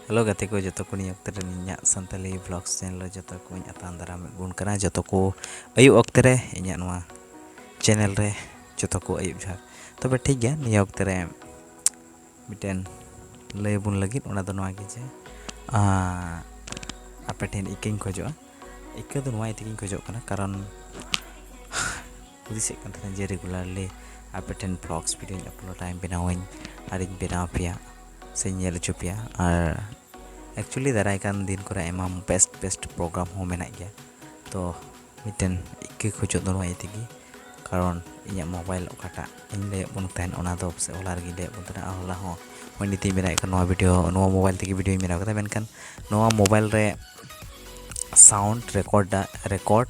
hello ᱜᱟᱛᱮ ᱠᱚ ᱡᱚᱛᱚ ᱠᱚ ᱱᱤᱭᱟᱹ ᱚᱠᱛᱮ ᱨᱮ ᱤᱧᱟᱹᱜ ᱥᱟᱱᱛᱟᱞᱤ ᱵᱞᱚᱜᱥ ᱪᱮᱱᱮᱞ ᱨᱮ ᱡᱚᱛᱚ ᱠᱚᱧ ᱟᱛᱟᱝ ᱫᱟᱨᱟᱢ ᱵᱚᱱ ᱠᱟᱱᱟ ᱡᱚᱛᱚ ᱠᱚ ᱟᱹᱭᱩᱵ ᱚᱠᱛᱮ ᱨᱮ ᱤᱧᱟᱹᱜ ᱱᱚᱣᱟ ᱪᱮᱱᱮᱞ ᱨᱮ ᱡᱚᱛᱚ ᱠᱚ ᱟᱹᱭᱩᱵ ᱡᱚᱦᱟᱨ ᱛᱚᱵᱮ ᱴᱷᱤᱠ ᱜᱮᱭᱟ ᱱᱤᱭᱟᱹ ᱚᱠᱛᱮ ᱨᱮ ᱢᱤᱫᱴᱮᱱ ᱞᱟᱹᱭ ᱵᱚᱱ ᱞᱟᱹᱜᱤᱫ ᱚᱱᱟ ᱫᱚ ᱱᱚᱣᱟ ᱜᱮ ᱡᱮ ᱟᱯᱮ ᱴᱷᱮᱱ ᱤᱠᱟᱹᱧ ᱠᱷᱚᱡᱚᱜᱼᱟ ᱤᱠᱟᱹ ᱫᱚ ᱱᱚᱣᱟ ᱛᱮᱜᱮᱧ ᱠᱷᱚᱡᱚᱜ ᱠᱟᱱᱟ ᱠᱟᱨᱚᱱ ᱦᱩᱫᱤᱥᱮᱫ ᱠᱟᱱ ᱛᱟᱦᱮᱱᱟ ᱡᱮ ᱨᱮᱜᱩᱞᱟᱨᱞᱤ ᱟᱯᱮ ᱴᱷᱮᱱ ᱵᱞᱚᱜᱥ ᱵᱷᱤᱰᱤᱭᱳᱧ ᱟᱯᱞᱳᱰᱟᱹᱧ ᱵᱮᱱᱟᱣᱟᱹᱧ ᱟᱨᱤᱧ ᱵᱮᱱᱟᱣ ᱯᱮᱭᱟ ᱥᱮ ᱧᱮᱞ ᱦᱚᱪᱚ ᱯᱮᱭᱟ ᱟᱨ ᱮᱠᱪᱩᱭᱮᱞᱤ ᱫᱟᱨᱟᱭ ᱠᱟᱱ ᱫᱤᱱ ᱠᱚᱨᱮ ᱟᱭᱢᱟ ᱵᱮᱥᱴ ᱵᱮᱥᱴ ᱯᱨᱳᱜᱨᱟᱢ ᱦᱚᱸ ᱢᱮᱱᱟᱜ ᱜᱮᱭᱟ ᱛᱚ ᱢᱤᱫᱴᱮᱱ ᱤᱠᱟᱹ ᱠᱷᱚᱡᱚᱜ ᱫᱚ ᱱᱚᱣᱟ ᱤᱭᱟᱹ ᱛᱮᱜᱮ ᱠᱟᱨᱚᱱ ᱤᱧᱟᱹᱜ ᱢᱳᱵᱟᱭᱤᱞ ᱚᱠᱟᱴᱟᱜ ᱤᱧ ᱞᱟᱹᱭᱟᱫ ᱵᱚᱱ ᱛᱟᱦᱮᱱ ᱚᱱᱟ ᱫᱚ ᱯᱟᱥᱮᱡ ᱦᱚᱞᱟ ᱨᱮᱜᱮᱧ ᱞᱟᱹᱭᱟᱫ ᱵᱚᱱ ᱛᱟᱦᱮᱱᱟ ᱟᱨ ᱦᱚᱞᱟ ᱦᱚᱸ ᱱᱚᱜᱼᱚᱭ ᱱᱤᱛᱚᱜ ᱤᱧ ᱵᱮᱱᱟᱣᱮᱫ ᱠᱟᱱ ᱱᱚᱣᱟ ᱵᱷᱤᱰᱭᱳ ᱱᱚᱣᱟ ᱢᱳᱵᱟᱭᱤᱞ ᱛᱮᱜᱮ ᱵᱷᱤᱰᱭᱳᱧ ᱵᱮᱱᱟᱣ ᱠᱮᱫᱟ ᱢᱮᱱᱠᱷᱟᱱ ᱱᱚᱣᱟ ᱢᱳᱵᱟᱭᱤᱞ ᱨᱮ ᱥᱟᱣᱩᱱᱰ ᱨᱮᱠᱚᱨᱰ ᱨᱮᱠᱚᱨᱰ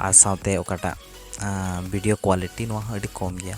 ᱟᱨ ᱥᱟᱶᱛᱮ ᱚᱠᱟᱴᱟᱜ ᱵᱷᱤᱰᱭᱳ ᱠᱳᱣᱟᱞᱤᱴᱤ ᱱᱚᱣᱟ ᱦᱚᱸ ᱟᱹᱰᱤ ᱠᱚᱢ ᱜᱮᱭᱟ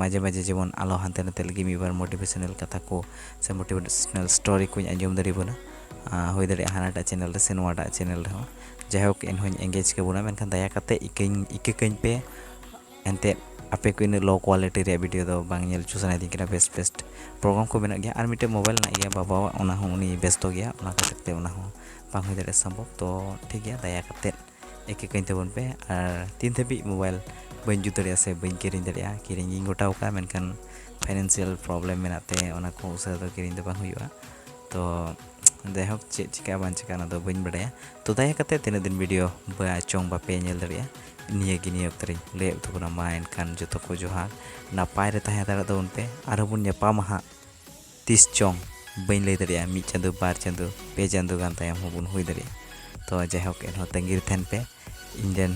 ᱢᱟᱡᱷᱮ ᱢᱟᱡᱷᱮ ᱡᱮᱢᱚᱱ ᱟᱞᱚ ᱦᱟᱱᱛᱮ ᱱᱟᱛᱮ ᱞᱟᱹᱜᱤᱫ ᱢᱤᱫ ᱵᱟᱨ ᱢᱳᱴᱤᱵᱷᱮᱥᱚᱱᱟᱞ ᱠᱟᱛᱷᱟ ᱠᱚ ᱥᱮ ᱢᱳᱴᱤᱵᱷᱮᱥᱚᱱᱟᱞ ᱥᱴᱳᱨᱤ ᱠᱚᱧ ᱟᱸᱡᱚᱢ ᱫᱟᱲᱮ ᱵᱚᱱᱟ ᱦᱩᱭ ᱫᱟᱲᱮᱭᱟᱜᱼᱟ ᱦᱟᱱᱟᱴᱟᱜ ᱪᱮᱱᱮᱞ ᱨᱮ ᱥᱮ ᱱᱚᱣᱟᱴᱟᱜ ᱪᱮᱱᱮᱞ ᱨᱮᱦᱚᱸ ᱡᱟᱭᱦᱳᱠ ᱮᱱᱦᱚᱸᱧ ᱮᱝᱜᱮᱡᱽ ᱠᱟᱵᱚᱱᱟ ᱢᱮᱱᱠᱷᱟᱱ ᱫᱟᱭᱟ ᱠᱟᱛᱮ ᱤᱠᱟᱹᱧ ᱤᱠᱟᱹ ᱠᱟᱹᱧ ᱯᱮ ᱮᱱᱛᱮᱫ ᱟᱯᱮ ᱠᱚ ᱤᱱᱟᱹᱜ ᱞᱳ ᱠᱳᱣᱟᱞᱤᱴᱤ ᱨᱮᱭᱟᱜ ᱵᱷᱤᱰᱤᱭᱳ ᱫᱚ ᱵᱟᱝ ᱧᱮᱞ ᱦᱚᱪᱚ ᱥᱟᱱᱟᱭᱮᱫᱤᱧ ᱠᱟᱱᱟ ᱵᱮᱥ ᱵᱮᱥ ᱯᱨᱳᱜᱨᱟᱢ ᱠᱚ ᱢᱮᱱᱟᱜ ᱜᱮᱭᱟ ᱟᱨ ᱢᱤᱫᱴᱮᱡ ᱢᱳᱵᱟᱭᱤᱞ ᱢᱮᱱᱟᱜ ᱜᱮᱭᱟ ᱵᱟᱵᱟᱣᱟᱜ ᱚᱱᱟ ᱦᱚᱸ ᱩᱱᱤ ᱵᱮᱥᱛᱚ ᱜᱮᱭᱟ ᱚᱱᱟ ᱠᱷᱟᱹᱛᱤᱨ ᱛᱮ ᱚᱱᱟ ᱦᱚᱸ ᱵᱟᱝ ᱦᱩᱭ ᱫᱟᱲᱮᱭᱟᱜᱼᱟ ᱥᱚᱢᱵᱷᱚᱵ ᱛᱚ ᱴᱷᱤᱠ ᱜᱮᱭᱟ ᱫᱟᱭᱟ ᱠᱟᱛᱮ ᱮᱠᱮ ᱠᱟᱹᱧ ᱛᱟᱵᱚᱱ ᱯᱮ ᱟᱨ ᱛᱤᱱ ᱫᱷᱟᱹᱵᱤᱡ ᱢᱳᱵᱟᱭᱤᱞ ᱵᱟᱹᱧ ᱡᱩᱛ ᱫᱟᱲᱮᱭᱟᱜᱼᱟ ᱥᱮ ᱵᱟᱹᱧ ᱠᱤᱨᱤᱧ ᱫᱟᱲᱮᱭᱟᱜᱼᱟ ᱠᱤᱨᱤᱧ ᱤᱧ ᱜᱚᱴᱟᱣ ᱠᱟᱜᱼᱟ ᱢᱮᱱᱠᱷᱟᱱ ᱯᱷᱟᱭᱱᱮᱱᱥᱤᱭᱟᱞ ᱯᱨᱚᱵᱞᱮᱢ ᱢᱮᱱᱟᱜ ᱛᱮ ᱚᱱᱟ ᱠᱚ ᱩᱥᱟᱹᱨᱟ ᱫᱚ ᱠᱤᱨᱤᱧ ᱫᱚ ᱵᱟᱝ ᱦᱩᱭᱩᱜᱼᱟ ᱛᱚ ᱡᱟᱭᱦᱳᱠ ᱪᱮᱫ ᱪᱤᱠᱟᱹᱜᱼᱟ ᱵᱟᱝ ᱪᱤᱠᱟᱹᱜᱼᱟ ᱚᱱᱟ ᱫᱚ ᱵᱟᱹᱧ ᱵᱟᱰᱟᱭᱟ ᱛᱚ ᱫᱟᱭᱟ ᱠᱟᱛᱮ ᱛᱤᱱᱟᱹᱜ ᱫᱤᱱ ᱵᱷᱤᱰᱤᱭᱳ ᱵᱟ ᱪᱚᱝ ᱵᱟᱯᱮ ᱧᱮᱞ ᱫᱟᱲᱮᱭᱟᱜᱼᱟ ᱱᱤᱭᱟᱹ ᱜᱮ ᱱᱤᱭᱟᱹ ᱚᱠᱛᱚ ᱨᱤᱧ ᱞᱟᱹᱭ ᱩᱛᱩ ᱠᱟᱱᱟ ᱢᱟ ᱮᱱᱠᱷᱟᱱ ᱡᱚᱛᱚ ᱠᱚ ᱡᱚᱦᱟᱨ ᱱᱟᱯᱟᱭ ᱨᱮ ᱛᱟᱦᱮᱸ ᱫᱟᱲᱮᱭᱟᱜ ᱛᱟᱵᱚᱱ ᱯᱮ ᱟᱨᱦᱚᱸ ᱵᱚᱱ ᱧᱟᱯᱟᱢᱟ ᱦᱟᱸᱜ ᱛᱤᱥ ᱪᱚᱝ ᱵᱟᱹᱧ ᱞᱟᱹᱭ ᱫᱟᱲᱮᱭᱟᱜᱼᱟ ᱢᱤᱫ ᱪᱟᱸᱫᱚ ᱵᱟᱨ ᱪᱟᱸᱫᱚ ᱯᱮ ᱪᱟᱸᱫᱚ ᱜᱟᱱ ᱛᱟᱭᱚᱢ ᱦᱚᱸ ᱵᱚᱱ ᱦᱩᱭ ᱫᱟᱲᱮᱭᱟᱜᱼᱟ ᱛᱚ ᱡᱟᱭᱦᱳᱠ ᱮᱱᱦᱚᱸ ᱛᱟᱺᱜᱤ ᱨᱮ ᱛᱟᱦᱮᱱ ᱯᱮ ᱤᱧ ᱨᱮᱱ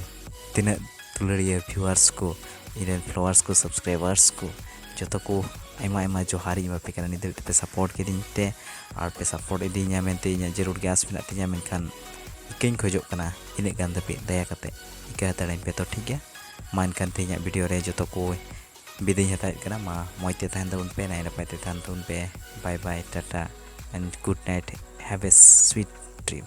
ᱛᱤᱱᱟᱹᱜ ᱫᱩᱞᱟᱹᱲᱤᱭᱟᱹ ᱵᱷᱤᱣᱟᱨᱥ ᱠᱚ ᱤᱧ ᱨᱮᱱ ᱯᱷᱞᱳᱣᱟᱨᱥ ᱠᱚ ᱥᱟᱵᱥᱠᱨᱟᱭᱵᱟᱨᱥ ᱠᱚ ᱡᱚᱛᱚ ᱠᱚ ᱟᱭᱢᱟ ᱟᱭᱢᱟ ᱡᱚᱦᱟᱨ ᱤᱧ ᱮᱢᱟᱯᱮ ᱠᱟᱱᱟ ᱱᱤᱛ ᱫᱷᱟᱹᱵᱤᱡ ᱛᱮᱯᱮ ᱥᱟᱯᱳᱨᱴ ᱠᱤᱫᱤᱧ ᱛᱮ ᱟᱨ ᱯᱮ ᱥᱟᱯᱳᱨᱴ ᱤᱫᱤᱧᱟ ᱢᱮᱱᱛᱮ ᱤᱧᱟᱹᱜ ᱡᱟᱹᱨᱩᱲ ᱜᱮ ᱟᱸᱥ ᱢᱮᱱᱟᱜ ᱛᱤᱧᱟ ᱢᱮᱱᱠᱷᱟᱱ ᱤᱠᱟᱹᱧ ᱠᱷᱚᱡᱚᱜ ᱠᱟᱱᱟ ᱤᱱᱟᱹᱜ ᱜᱟᱱ ᱫᱷᱟᱹᱵᱤᱡ ᱫᱟᱭᱟ ᱠᱟᱛᱮ ᱤᱠᱟᱹ ᱦᱟᱛᱟᱲᱟᱹᱧ ᱯᱮ ᱛᱚ ᱴᱷᱤᱠ ᱜᱮᱭᱟ ᱢᱟ ᱮᱱᱠᱷᱟᱱ ᱛᱮᱦᱮᱧᱟᱜ ᱵᱷᱤᱰᱤᱭᱳ ᱨᱮ ᱡᱚᱛᱚ ᱠᱚ ᱵᱤᱫᱟᱹᱭᱤᱧ ᱦᱟᱛᱟᱣᱮᱫ ᱠᱟᱱᱟ ᱢᱟ ᱢᱚᱡᱽ ᱛᱮ ᱛᱟᱦᱮᱱ ᱛᱟᱵᱚᱱ ᱯᱮ ᱱᱟᱭ ᱱᱟᱯᱟᱭ ᱛᱮ ᱛᱟᱦᱮᱱ ᱛᱟᱵᱚᱱ ᱯᱮ bye bye tata and good night have a sweet dream